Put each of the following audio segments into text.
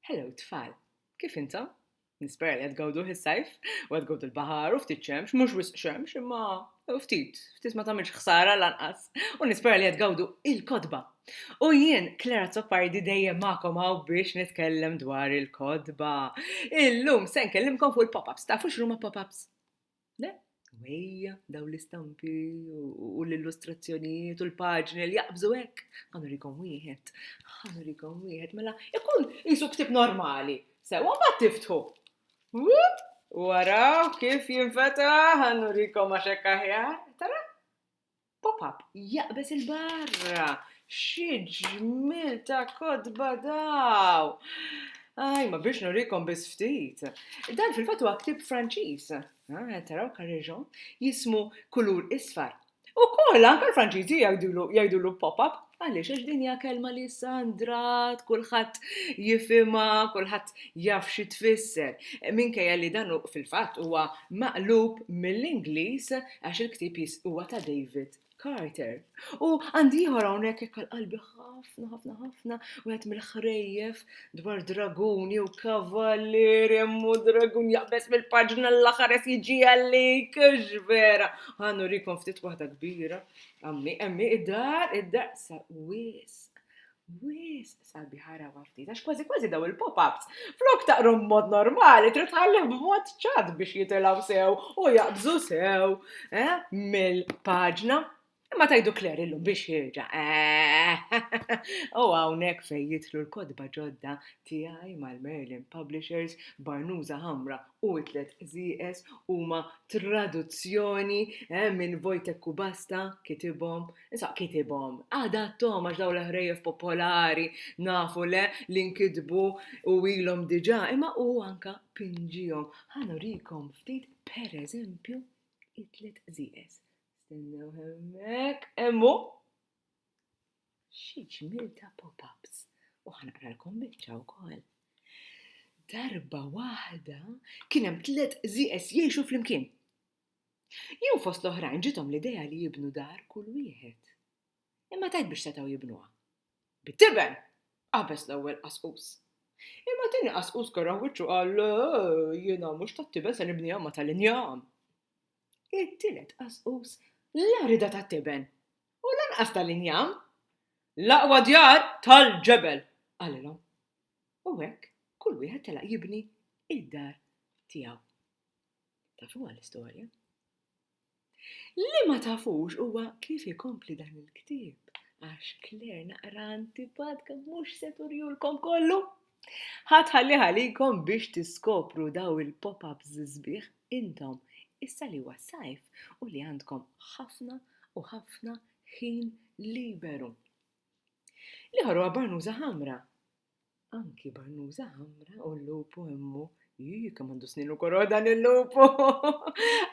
Hello tfal, kif intom? Nispera li qed gawdu is-sajf u qed gawdu l-baħar u ftit xemx, mhux wisq xemx imma ftit, ftit ma tagħmilx ħsara lanqas. U nispera li qed gawdu il-kodba. U jien Klara Zoppardi dejjem magħkom hawn biex nitkellem dwar il-kodba. Illum se nkellimkom fuq il-pop-ups, tafu x'ruma pop-ups? Le, u ejja, dawn l-istampi u l-illustrazzjonijiet u l-paġni li jaqbżu hekk. Ħanu rikom wieħed, ħanu rikom wieħed, mela ikun jisu ktib normali. Sewa ma tiftħu. Waraw kif jinfeta ħanu rikom għax hekk aħjar. Tara? Pop-up jaqbeż il-barra! Xi ġmiel ta' kotba daw! Aj, ma biex nurikom biss ftit. Dan fil-fatt huwa ktieb Franċiż. Ah, taraw Carrejon jismu kulur isfar. Ukoll anke l-Franċiżi jgħidulu jgħidulu pop-up. Għaliex? Għax din hija kelma li issa ndrat, kulħadd jifhimha, kulħadd jaf xi tfisser. Minkejja li dan fil-fatt huwa maqlub mill-Ingliż għax il-ktieb huwa ta' David Carter. U għandi ieħor hawnhekk hekk qalbi ħafna ħafna ħafna wieħed mill-ħrejjef dwar dragun jew kavallier jemmu dragun jaqbes mill-paġna l-aħħar qed jiġi għalik vera. Ħannu rikom ftit waħda kbira Ammi, ammi, id-dar, id-dar, sa wisq. Wis, sabi ħara waftit, għax kważi kważi daw il-pop-ups. Flok taqrom mod normali, trid tħallem b'mod ċad biex jitilaw sew u jaqbżu sew eh, mill-paġna. Imma tajdu Kler illum biex jirġa. Eh, u hawnhekk fejn jitlu l-kodba ġodda tiegħi mal-Merlin Publishers, barnuża ħamra u t-tliet qżieqeż huma traduzzjoni minn Wojtek Kubasta, kitibhom, insomma kitibhom, adatthom għax dawn l-ħrejjef popolari nafu le li nkitbu u ilhom diġà, imma hu anke pinġihom. Ħa nurikom ftit pereżempju it-tliet qżieqeż. Stennew hemmhekk, hemm hu! Xi ġmiel ta' pop-ups! U ħa naqralkom biċċa wkoll. Darba waħda kien hemm tliet qżieqeż jgħixu flimkien. Jum fost l-oħrajn ġiethom l-idea li jibnu dar kull wieħed. Imma tgħid biex setgħu jibnuha. Bit-tiben! qabeż l-ewwel qasqus. Imma t-tieni qasqus keraħ wiċċu qal, Le, jiena mhux tat-tiben se nibniha ma tal-injam. It-tielet qasqus la rida tat-tiben. u lanqas tal-injam. L-aqwa djar tal-ġebel, qalilhom. U hekk kull wieħed telaq jibni id-dar tiegħu. Tafu għall-istorja? Li ma tafux huwa kif ikompli dan il-ktieb għax Claire naqra antipatka mhux se turjulkom kollu. Ħa tħallih għalikom biex tiskopru dawn il-pop-ups sbieħ intom, issa li huwa s-sajf u li għandkom ħafna u ħafna ħin liberu. L-ieħor huwa barnuża ħamra. Anki barnuża ħamra u l-lupu immu. Jii, kemm għandu snin u koroħ dan il-lupu.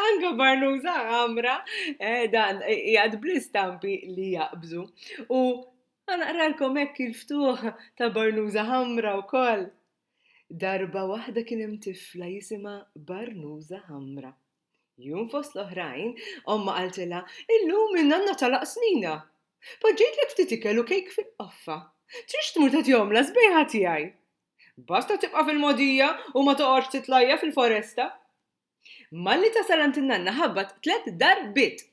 Anka barnuża ħamra, eh, dan jgħad bl-istampi li jaqbżu. U Ħa naqralkom hekk il-ftuħ ta' Barnuża Ħamra wkoll. Darba waħda kien hemm tifla jisimha Barnuża Ħamra. Jum fost l-oħrajn, ommha qaltilha, Illum in-nanna tagħlaq snina. Poġġejtlek ftit ikel u kejk fil-qoffa. Trix tmur tagħtihom las-sbejħa tiegħi? Basta tibqa' fil-mogħdija u ma toqgħodx titlajja' fil-foresta. Malli tasal għand in-nanna ħabbat tliet darbiet.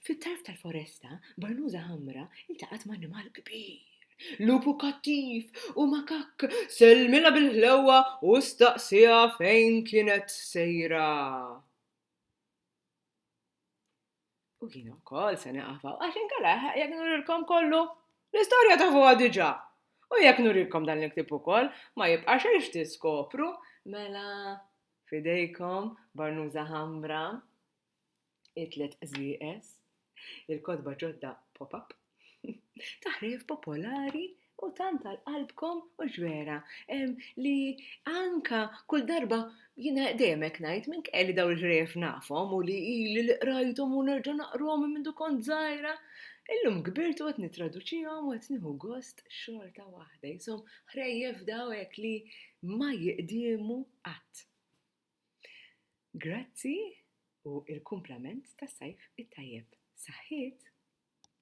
Fit-tarf tal-foresta, barnuża ħamra ltaqgħet ma' annimal kbir. Lupu kattiv u makakk sellmilha bil-ħlewwa u staqsieha fejn kienet sejra. U jien ukoll se naqafaw, għax inkella jekk nurilkom kollu, l-istorja tafuha diġà. U jekk nurilkom dan il-ktieb ukoll, ma jibqa' xejn x'tiskopru, mela f'idejkom barnuża ħamra, it-tliet qżieqeż, il-kotba ġodda pop-up, Taħrif popolari u tant għal qalbkom u ġvera li anka kull darba jina demek najt minn kelli daw il-ħrejf nafhom u li ili li qrajthom u nerġa' naqrhom minn mindu kont żgħira. Illum kbirt u qed nittraduċihom u qed nieħu gost xorta waħda. Jisom ħrejjef daw hekk li ma jiqdiemu qatt. Grazzi u il-kumplament tas-sajf it-tajjeb. Saħħiet!